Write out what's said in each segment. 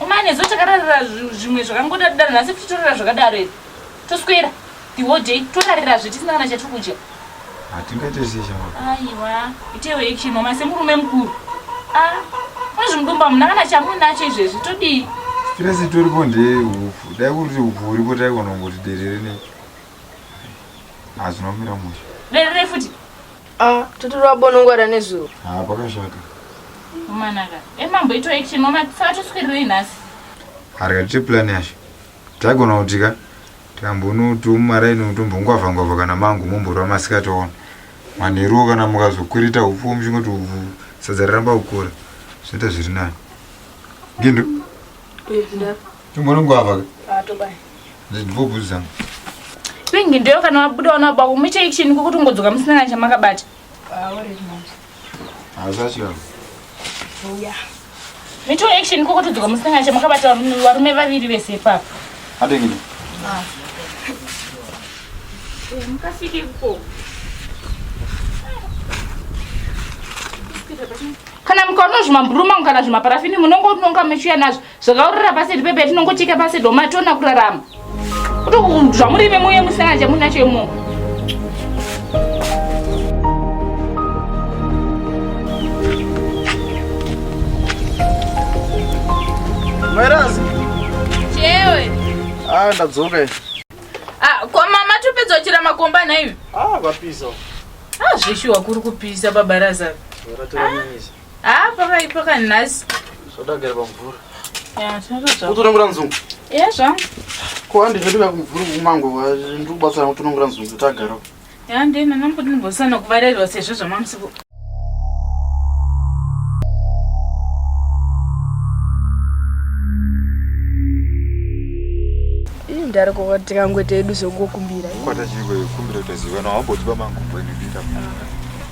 Umane zo takararira zvimwe zvakangoda kudaro nhasi kuti torara zvakadaro here. Toswera the whole day torarira zve tisina kana chatiri kudya. Hatingaite zve chama. Aiwa itewe action mama semurume mukuru. Ah muzvimudumba muna kana chamunacho izvezvi todii? Stress itoripo ndeye hupfu. Dai kuri kuti hupfu huripo taigona kungoti derere ne. Hazvinomira musha. Derere futi. Ah, tuti rwabonongwara nezuro. Ah, pakashata. Umanaka. Emambo eh, ito action mama saka tuswirirei nhasi. Harika tiche plan yacho. Taigona kuti ka tikambonotumara ino tombongwavha ngwavha kana mangu momborwa masikati ona. Manheruwo kana mukazokurita upfu muchingoti upfu sadza ramba kukura. Zvinoita zviri nani. Gindo. Yes, Tongonongwava. Ah, tobai. Ndibvubvu zangu. Pingi ndiyo kana wabuda wanaba kumuchei chini kukuti ungodzoka musina kana chamakabata. Ah, uri manje. Ah, zvacho. Uya. Mito action kukuti dzoka musina kana chamakabata varume vaviri vese ipapo. Adengini. Ah. Eh, mukafike kuko. kana mukaona zvimamburu mangu kana zvimaparafini munongononga mechiuya nazvo zvakaurira pasi iri pepe tinongocheka pasi doma tiona kurarama kuti zvamuri ime muye musana chamunacho imo Mwerazi. Chewe. Ah, ndadzoka. Ah, kwa mama tupedza chira makomba na imi. Ah, vapiso. Ah, zvishuwa kuri kupisa baba Razaro. Ratira nyanyisa. Ah, pakaipa ka nhasi. Sodagara pamvura. Yeah, tinotodzoka. Utonongora nzungu. Yeah, zvangu. Ko handi zveduka kumvura kumango ndiri kubatsira kutonongora nzungu tagara. Yeah, ndina namboti ndimbosana kuvarerwa sezvo zvamamusiku. ndari kuva tikangoita edu zvokukumbira kwata chiriko kumbira utaziva no hambotiba mangu bwenibita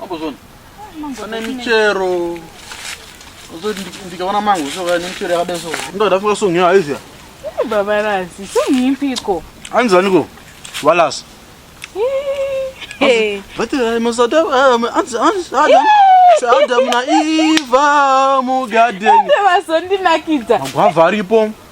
Mambozvona. Pane michero. Ozoti ndikaona mango soka nemichero yakadai so. Ndoda fuka song yayo izya. Baba Rasi, song yipiko? Anzani ko? Walas. Hey. But I must have um anzi anzi Adam. Adam na Eva mu garden. Vazondinakidza. Magwava aripo.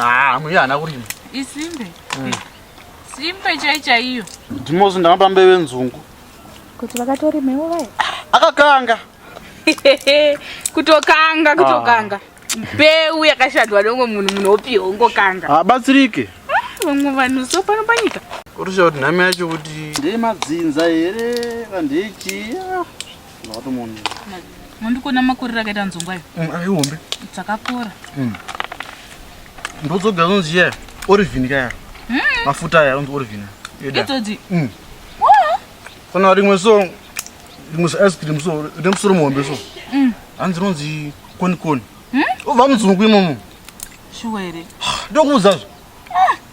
Ah, mwiya ana kurima. Isimbe. Mm. Simbe chai chaiyo. Ndimozi ndakamba mbeve nzungu. Kuti vakatorima ivo vaye. Akakanga. kutokanga ah. kutokanga. Ah. Mbeu yakashadwa dongo munhu munhu opi hongo kanga. Habatsirike. Ah, vamwe vanhu so pano panyika. Kurusha kuti nhame yacho kuti. Ndeye madzinza here? Vandeichi. Ndakatomuona. Mondikuona makorera akaita nzongwa iyo. Mm, Aihombe. Dzakakora. Mm. Ndodzoga unonzi chiya orivhini kaya. Mm. Mafuta aya unonzi orivhini. Eda. Idzodzi. Mm. Wow. Kana rimwe so rimwe so ice cream so rine musoro muhombe so. Mm. Hanzi rinonzi koni koni. Mm. Uvha mudzungu imomo. Shuwa here? Ndokuudzazve.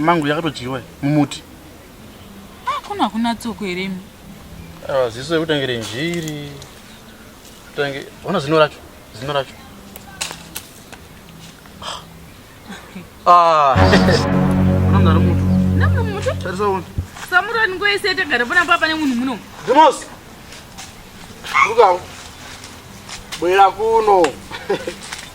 mangu yakatodyiwa mumuti ah, kuno hakuna tsoko here imi ah, ziso yekutangire njiri tange ona zino racho zino racho ah. unamdari mutu namwe mutu tarisaona samurani ngoyese tagara pana papa nemunhu muno demos rukawo bwera kuno